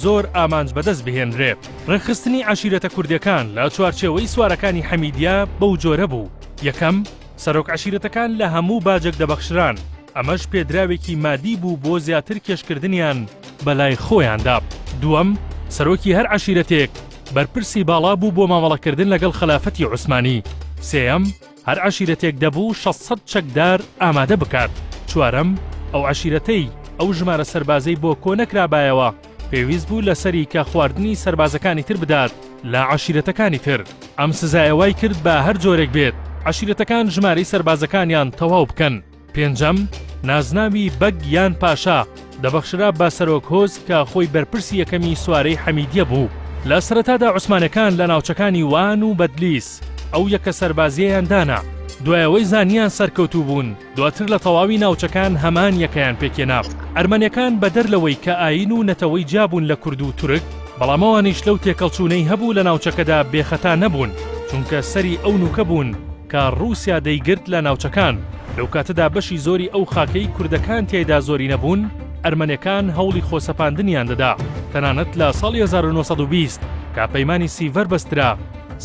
زۆر ئامانج بەدەست بهێنرێت. ڕێکخستنی عەشیرەتە کوردەکان لە چوارچێوەی سوارەکانی حەمیدیە بەو جۆرە بوو، یەکەم، سەرۆک عەشیرەتەکان لە هەموو باجێک دەبەخشران، ئەمەش پێدراوێکی مادی بوو بۆ زیاتر کێشکردنیان بەلای خۆیاندا، دووەم، سەرۆکی هەر عەشیرەتێک بەرپرسی باڵا بوو بۆ مامەڵەکردن لەگەڵ خەلافەتی عوسمانی، سێیەم، هەر عەشیرەتێک دەبوو شەست سەد چەکدار ئامادە بکات، چوارەم، ئەو عەشیرەتەی ئەو ژمارە سەربازەی بۆ کۆ نەکرابایەوە، پێویست بوو لە سەری کە خواردنی سەربازەکانی تر بدات لە عەشیرەتەکانی تر. ئەم سزایە وای کرد بە هەر جۆرێک بێت عەشیرەتەکان ژمارەی سەربازەکانیان تەواو بکەن. پێنجەم، نازناوی بەگ یان پاشا دەبەخشرا بە سەرۆک هۆز کە خۆی بەرپرسی یەکەمی سوارەی حەمیدیە بوو. لە سەرەتادا عوسمانەکان لە ناوچەکانی وان و بەدلیس ئەو یەکە سەربازیەیان دانا، دوای ئەوەی زانیان سەرکەوتوو بوون دواتر لە تەواوی ناوچەکان هەمان یەکەیان پێکهێنا. ئەرمەنەکان بەدەر لەوەی کە ئایین و نەتەوەی جیابوون لە کورد و تورک، بەڵام ئەوانیش لەو تێکەڵچوونەی هەبوو لە ناوچەکەدا بێخەتا نەبوون، چونکە سەری ئەو نوکە بوون، کە ڕووسیا دەیگرت لە ناوچەکان، لەو کاتەدا بەشی زۆری ئەو خاکەی کوردەکان تیایدا زۆرینە بوون، ئەرمەنەکان هەوڵی خۆسەپاندنیان دەدا، تەنانەت لە ساڵی هەزار و نۆ سەد و بیست کە پەیمانی سیڤەر بەسترا،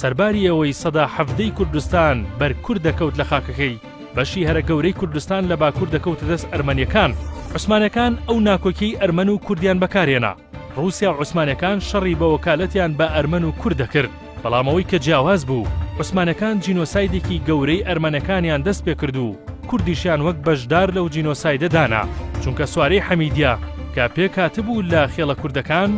سەرباری ئەوەی سەدا حەڤدەی کوردستان بەر کورد دەکەوت لە خاکەکەی، بەشی هەرە گەورەی کوردستان لە باکوور دەکەوتە دەست ئەرمەنیەکان. عوسمانەکان ئەو ناکۆکیەی ئەرمەن و کوردیان بەکارهێنا، ڕووسیا و عوسمانەکان شەڕی بە وەکالەتیان بە ئەرمەن و کورد دەکرد، بەڵام ئەوەی کە جیاواز بوو، عوسمانەکان جینۆسایدێکی گەورەی ئەرمەنەکانیان دەست پێ کرد و کوردیشیان وەک بەشدار لەو جینۆسایدە دانا، چونکە سوارەی حەمیدیە کە پێک هاتبوو لە خێڵە کوردەکان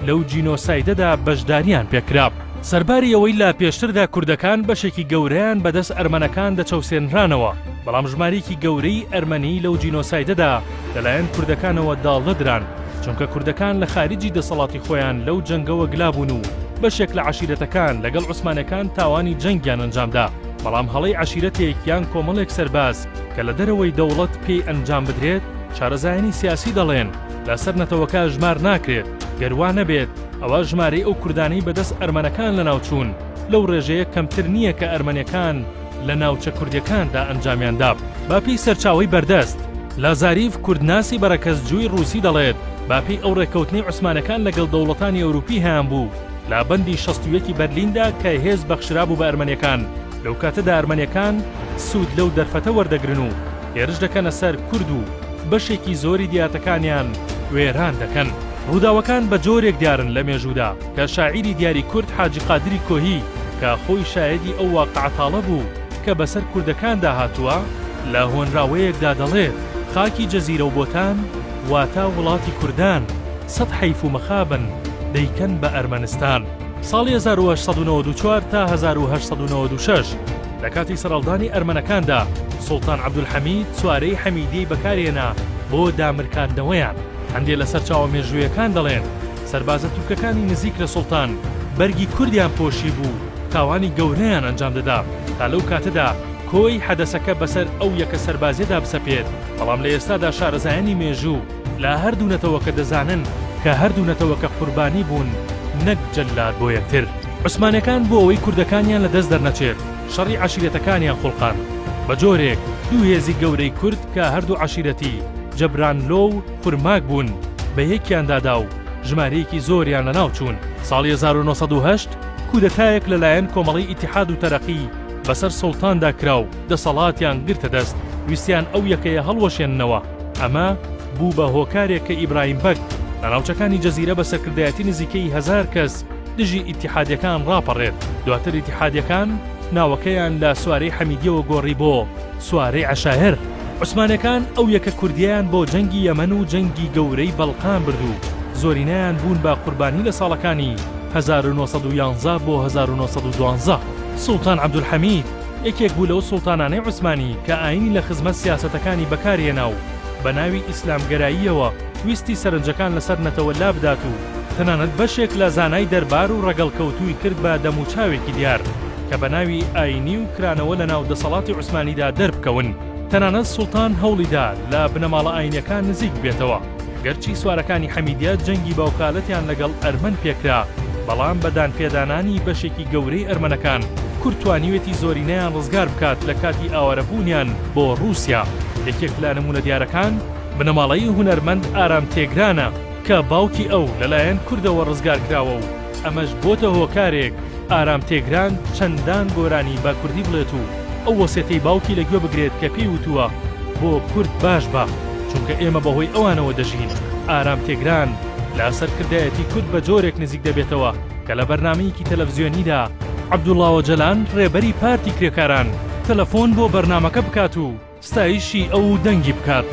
لەو جینۆسایدەدا بەشداریان پێ کرا. سەرباری ئەوەی لە پێشتردا کوردەکان بەشێکی گەورەیان بە دەست ئەرمەنەکان دەچەوسێنرانەوە، بەڵام ژمارەیەکی گەورەی ئەرمەنی لەو جینۆسایدەدا لەلایەن کوردەکانەوە داڵدە دران، چونکە کوردەکان لە خاریجی دەسەڵاتی خۆیان لەو جەنگەوە گلابوون و بەشێک لە عەشیرەتەکان لەگەڵ عوسمانەکان تاوانی جەنگیان ئەنجامدا بەڵام هەڵەی عەشیرەتێک یان کۆمەڵێک سەرباز کە لە دەرەوەی دەوڵەت پێی ئەنجام بدرێت شارەزایانی سیاسی دەڵێن لەسەر نەتەوەکە ژمار ناکرێت گەر وا نەبێت ئەوا ژمارەی ئەو کوردانەی بەدەست ئەرمەنەکان لەناوچوون لەو ڕێژەیە کەمتر نییە کە ئەرمەنەکان لە ناوچە کوردیەکاندا ئەنجامیان دا. بە پێی سەرچاوەی بەردەست، لازاریڤ کوردناسی بەرەکەزجووی ڕووسی دەڵێت، بە پێی ئەو ڕێککەوتنەی عوسمانەکان لەگەڵ دەوڵەتانی ئەوروپی هەیانبوو لە بەندی شەست و یەکی بەرلیندا کە هێز بەخشرابوو بە ئەرمەنیەکان، لەوکاتەدا ئەرمەنیەکان سوود لەو دەرفەتە وەردەگرن و هێرش دەکەنە سەر کورد و بەشێکی زۆری دیاتەکانیان وێران دەکەن. ڕووداوەکان بە جۆرێک دیارن لە مێژوودا کە شاعیری دیاری کورد حاجی قادری کۆهی کە خۆی شایەدی ئەو واقعە تاڵە بوو کە بەسەر کوردەکاندا هاتووە، لە هۆنراوەیەکدا دەڵێت، خاکی جزیرە و بۆتان، واتە وڵاتی کوردان، سەد حەیف و مەخابن، دەیکەن بە ئەرمەنستان. ساڵی هەزار و هەشت سەد و نەوەد و چوار تا هەزار و هەشت سەد و نەوەد و شەش. لە کاتی سەرەڵدانی ئەرمەنەکاندا، سوڵتان عەبدولحەمید چوارەی حەمیدیەی بەکارهێنا بۆ دامرکاندنەوەیان. هەندێ لە سەرچاوە مێژوویەکان دەڵێن، سەربازە تورکەکانی نزیک لە سوڵتان، بەرگی کوردیان پۆشیبوو و تاوانی گەورەیان ئەنجام دەدا، تا لەو کاتەدا کۆی حەدەسەکە بەسەر ئەو یەکە سەربازیەدا بسەپێت، بەڵام لە ئێستادا شارەزایانی مێژوو، لە هەردوو نەتەوەکە دەزانن کە هەردوو نەتەوەکە قوربانی بوون نەک جەلاد بۆ یەکتر. عوسمانەکان بۆ ئەوەی کوردەکانیان لە دەست دەرنەچێت شەڕی عەشیرەتەکانیان خوڵقاند بە جۆرێک دوو هێزی گەورەی کورد کە هەردوو عەشیرەتی جەبرانلۆ و خورماک بوون بە یەکیان دادا و ژمارەیەکی زۆریان لە ناو چوون. ساڵی هەزار و نۆ سەد و هەشت کودەتایەک لە لایەن کۆمەڵەی ئیتیحاد و تەرەقی بەسەر سوڵتاندا کرا و دەسەڵاتیان گرتە دەست ویستیان ئەو یەکەیە هەڵوەشێننەوە، ئەمە بوو بە هۆکارێک کە ئیبراهیم بەگ لە ناوچەکانی جزیرە بە سەرکردایەتی نزیکەی هەزار کەس دژی ئیتیحادیەکان ڕاپەڕێت، دواتر ئیتیحادیەکان ناوەکەیان لە سوارەی حەمیدیەوە گۆڕی بۆ سوارەی عەشایر. عوسمانەکان ئەو یەکە کوردیەیان بۆ جەنگی یەمەن و جەنگی گەورەی بەڵقان برد و زۆرینەیان بوون بە قوربانی لە ساڵەکانی هەزار و نۆ سەد و یازدە بۆ هەزار و نۆ سەد و دوازدە. سوڵتان عەبدولحەمید یەکێک بوو لەو سوڵتانانەی عوسمانی کە ئایینی لە خزمەت سیاسەتەکانی بەکارهێنا و بە ناوی ئیسلامگەراییەوە ویستی سەرنجەکان لەسەر نەتەوە لابدات و تەنانەت بەشێک لە زانای دەربار و ڕەگەڵکەوتووی کرد بە دەموچاوێکی دیار کە بە ناوی ئایینی و کرانەوە لە ناو دەسەڵاتی عوسمانیدا دەربکەون. تەنانەت سوڵتان هەوڵیدا لە بنەماڵە ئایینیەکان نزیک ببێتەوە. گەرچی سوارەکانی حەمیدیە جەنگی باوکالەتیان لەگەڵ ئەرمەن پێکرا، بەڵام بە دانپێدانانی بەشێکی گەورەی ئەرمەنەکان، کورد توانیوێتی زۆرینەیان ڕزگار بکات لە کاتی ئاوارەبوونیان بۆ ڕووسیا. یەکێک لە نموونە دیارەکان، بنەماڵەی هونەرمەند ئارام تێگرانە کە باوکی ئەو لەلایەن کوردەوە ڕزگار کراوە و، ئەمەش بۆتە هۆکارێک ئارام تێگران چەندان گۆرانی بە کوردی بڵێت و ئەو وەسێتەی باوکی لە گوێ بگرێت کە پێی وتووە بۆ کورد باش بە چونکە ئێمە بە هۆی ئەوانەوە دەژین ئارام تێگران لە سەرکردایەتی کورد بە جۆرێک نزیک دەبێتەوە کە لە بەرنامەیەکی تەلەفزیۆنیدا عەبدوڵا ئۆجەلان ڕێبەری پارتی کرێکاران تەلەفۆن بۆ بەرنامەکە بکات و ستایشی ئەو و دەنگی بکات.